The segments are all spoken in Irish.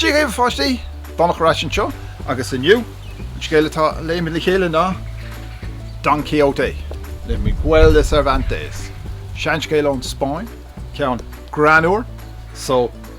Dia dhaoibh a pháistí! Domhnach ar ais anseo agus inniu, an scéal atá á léamh le chéile ná Don Quixote le Miguel de Cervantes. Seanscéal ón Spáinn, ceann greannmhar so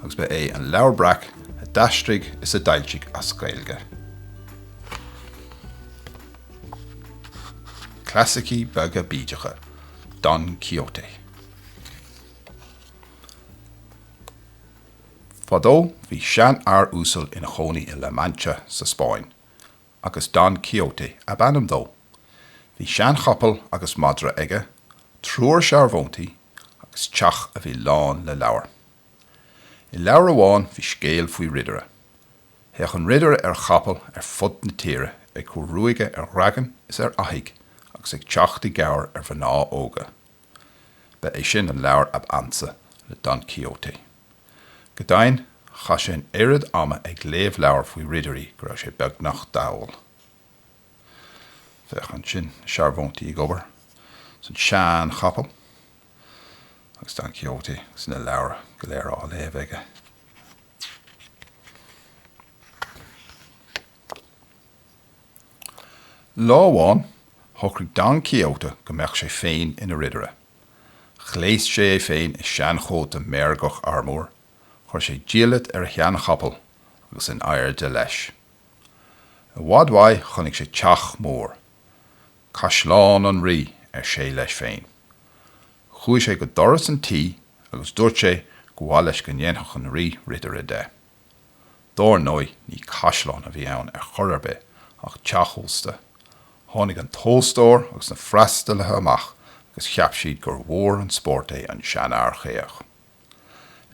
agus ba é an Leabhar Breac a d'aistrigh is a d'fhoilsigh é as Gaeilge. Clasaicí beaga bídeacha, Don Quixote. Fadó bhí seanfhear uasal ina chónaí i La Mancha sa Spáinn. agus Don Quixote ab ainm dó. Bhí seanchapall agus madra aige, triúr searbhóntaí agus teach a bhí lán de leabhair. I leabhar amháin bhí scéal faoi ridire. Théadh an ridire ar chapall ar fud na tíre ag cur ruaige ar dhragan is ar fhathaigh agus ag teacht i gcabhair ar mhná óga. Ba é sin an leabhar ab ansa le Don Quixote. Go deimhin, chaith sé an oiread ama ag léamh leabhar faoi ridirí go raibh sé beagnach dall. Féach ansin, na searbhóntaí ag obair is an seanchapall agus Don Quixote agus na leabhair go léir á léamh aige. Lá amháin, shocraigh Don Quixote go mbeadh sé féin ina ridire. Ghléas sé é féin i seanchóta meirgeach armúir, chuir sé diallait ar a sheanchapall agus in airde leis, i bhfad uaidh, chonaic sé teach mór. Caisleán an Rí, ar sé leis féin. Chuaigh sé go doras an tí agus dúirt sé go mba mhaith leis go ndéanfadh an Rí ridire de. Dar ndóigh ní caisleán a bhí ann ar chor ar bith ach teach ósta. Tháinig an t-óstóir agus na freastalaithe amach agus cheap siad gur mhór an spórt é an seanfhear caoch.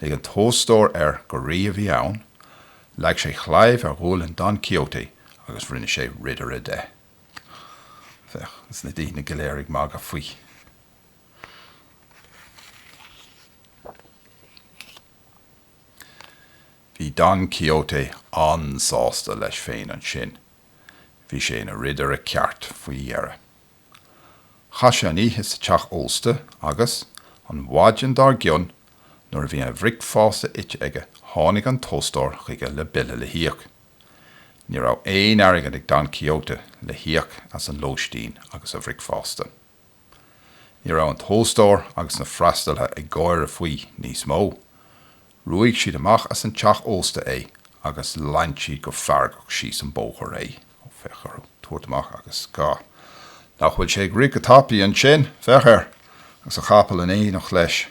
Lig an t-óstóir air gur rí a bhí ann, leag sé claidheamh ar ghualainn Don Quixote agus rinne sé ridire de. Féach, is na daoine go léir ag magadh faoi. Bhí Don Quixote an-sásta leis féin ansin. Bhí sé ina ridire ceart faoi dheireadh. Chaith sé an oíche sa teach ósta agus, an mhaidin dár gcionn, nuair a bhí a bhricfeasta ite aige tháinig an t-óstóir chuige le bille le híoc. Ní raibh aon airgead ag Don Quixote le híoc as an lóistín agus a bhricfeasta. Ní raibh an t-óstóir agus na freastalaithe ag gáire faoi níos mó. Ruaig siad amach as an teach ósta é agus lean siad go feargach síos an bóthar é. Ó féach orthu ag tabhairt amach agus ag rá Nach bhfuil sé ag rith go tapaidh ansin? Féach air! agus a chapall in éineacht leis.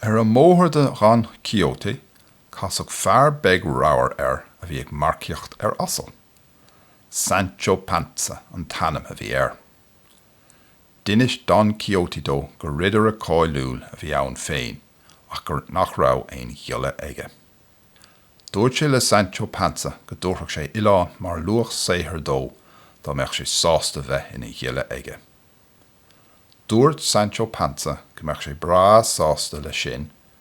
Ar an mbóthar do Don Quixote Casadh fear beag ramhar air a bhí ag marcaíocht ar asal. Sancho Panza an t-ainm a bhí air. D'inis Don Quixote dó gur ridire cáiliúil a bhí ann féin ach go, nach raibh, aon ghiolla aige. Dúirt sé le Sancho Panza go dtabharfadh sé oileán mar luach saothair dó dá mbeadh sé sásta bheith ina ghiolla aige. Dúirt Sancho Panza go mbeadh sé breá sásta leis sin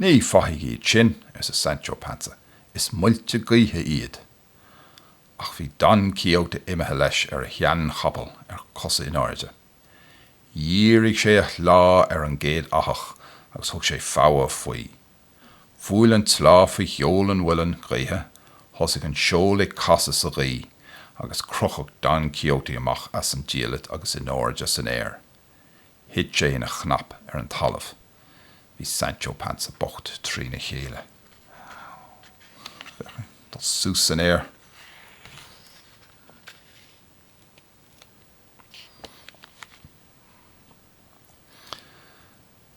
Ní fathaigh iad sin, arsa Sancho Panza, is muilte gaoithe iad. Ach bhí Don Quixote imithe leis ar a sheanchapall ar cosa in airde. Dhírigh sé a shleá ar an gcéad fhathach agus thug sé fogha faoi. Bhuail an tsleá faoi sheol an mhuilinn gaoithe, thosaigh an seol ag casadh sa ghaoth agus crochadh Don Quixote amach as an diallait agus in airde san aer. Thit sé ina chnap ar an talamh. Bhí Sancho Panza bocht trí na chéile. Féach é dul suas san aer.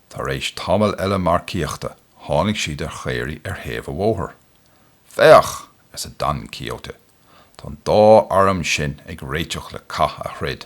Tar éis tamaill eile marcaíochta tháinig siad ar chaoraí ar thaobh an bhóthair. Féach! arsa Don Quixote. Tá an dá arm sin ag réiteach le cath a throid.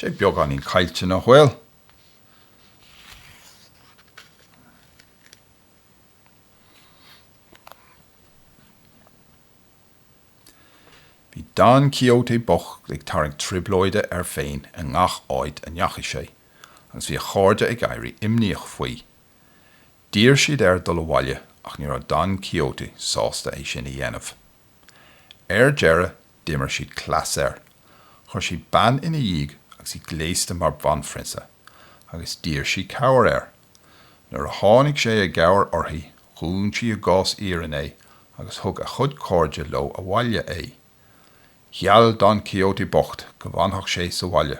Tá sé beagáinín caillte nach bhfuil? Bhí Don Quixote bocht ag tarraingt trioblóide air féin i ngach áit a ndeachaigh sé, agus bhí a chairde ag éirí imníoch faoi. D'iarr siad air dul abhaile ach ní raibh Don Quixote sásta é sin a dhéanamh. Ar deireadh D'imir siad cleas air. Chuir siad bean ina dhiaidh agus í gléasta mar bhanphrionsa agus d'iarr sí cabhair air. Nuair a tháinig sé i gcabhair uirthi dhún sí i gcás iarainn é agus thug a chuid cairde leo abhaile é. Gheall Don Quixote bocht go bhfanfadh sé sa bhaile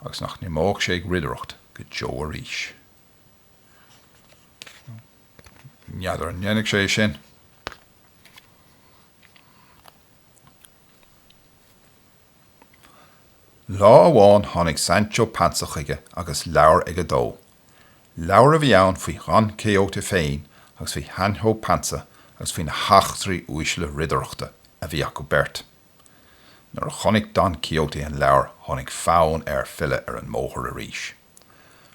agus nach n-imeodh sé ag ridireacht go deo arís. N'fheadar an ndéanfaidh sé é sin. Lá amháin tháinig Sancho Panza chuige agus leabhar aige dó. Leabhar a bhí ann faoi Dhon Quixote féin agus faoi Shancho Panza agus faoi na heachtraí uaisle ridireachta a bhí acu beirt. Nuair a chonaic Don Quixote an leabhar tháinig fonn air filleadh ar an mbóthar arís.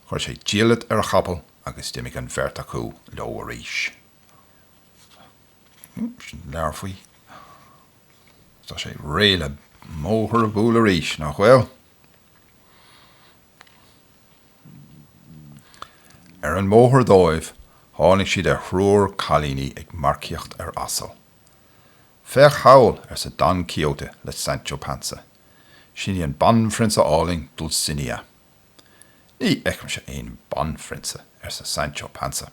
Chuir sé diallait ar a chapall agus d'imigh an bheirt acu leo arís. Leabhar faoi. Tá sé réidh le mbóthar a bhualadh arís, nach bhfuil? Ar an mbóthar dóibh tháinig siad ar thriúr cailíní ag marcaíocht ar asal. Féach thall, arsa Don Quixote le Sancho Panza, sin í an banphrionsa álainn Dulcinea. Ní fheicimse aon bhanphrionsa, arsa Sancho Panza.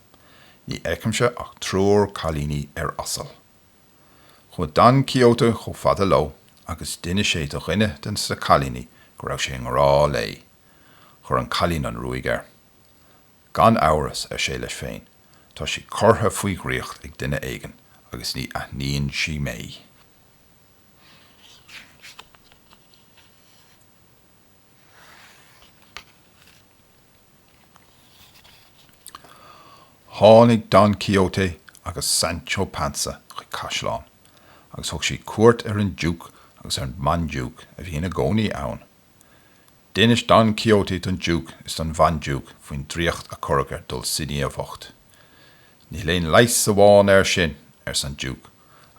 Ní fheicimse ach triúr cailíní ar asal. Chuaigh Don Quixote chomh fada leo agus d'inis sé do dhuine de na cailíní go raibh sé i ngrá léi. Chuir an cailín an ruaig air. Gan amhras, ar sé leis féin, tá sí curtha faoi dhraíocht ag duine éigin agus ní aithníonn sí mé. Tháinig Don Quixote agus Sancho Panza chuig caisleán agus thug siad cuairt ar an Diúc agus ar an mBandiúc a bhí ina gcónaí ann. D'inis Don Quixote don Diúc is don Bhandiúc faoin draíocht a cuireadh ar Dulcinea bhocht. Níl ach aon leigheas amháin air sin, arsa an Diúc,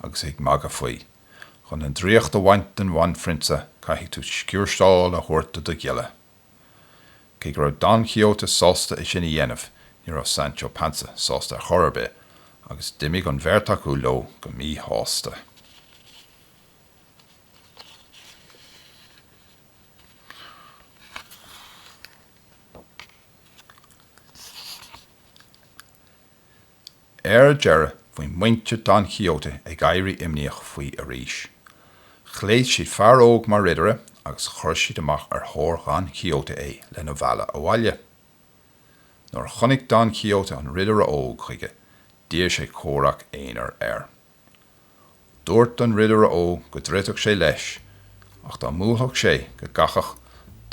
agus é ag magadh faoi. Chun an draíocht a bhaint den bhanphrionsa caithfidh tú sciúrsáil a thabhairt do do ghiolla. Cé go raibh Don Quixote sásta é sin a dhéanamh ní raibh Sancho Panza sásta ar chor ar bith agus d'imigh an bheirt acu leo go míshásta. Ar deireadh bhí muintir Don Quixote ag éirí imníoch faoi arís. Ghléas siad fear óg mar ridire agus chuir siad amach ar thóir Dhon Quixote é lena mhealladh abhaile. Nuair a chonaic Don Quixote an ridire óg chuige d'iarr sé comhrac aonair air. Dúirt an ridire óg go dtroidfeadh sé leis ach dá mbuafadh sé go gcaithfeadh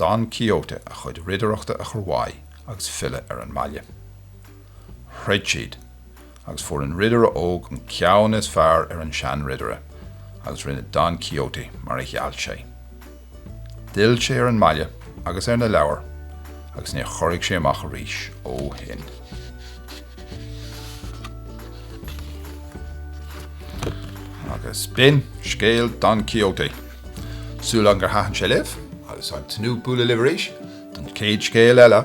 Don Quixote a chuid ridireachta a chur uaidh agus filleadh ar an mbaile. Throid siad agus fuair an ridire óg an ceann is fearr ar an seanridire agus rinne Don Quixote mar a gheall sé. D'fhill sé ar an mbaile agus ar na leabhair agus níor chorraigh sé amach arís ó shin. Agus b'in scéal Don Quixote. Súil agam gur thaithin sé libh agus ag tnúth bualadh libh arís don chéad scéal eile.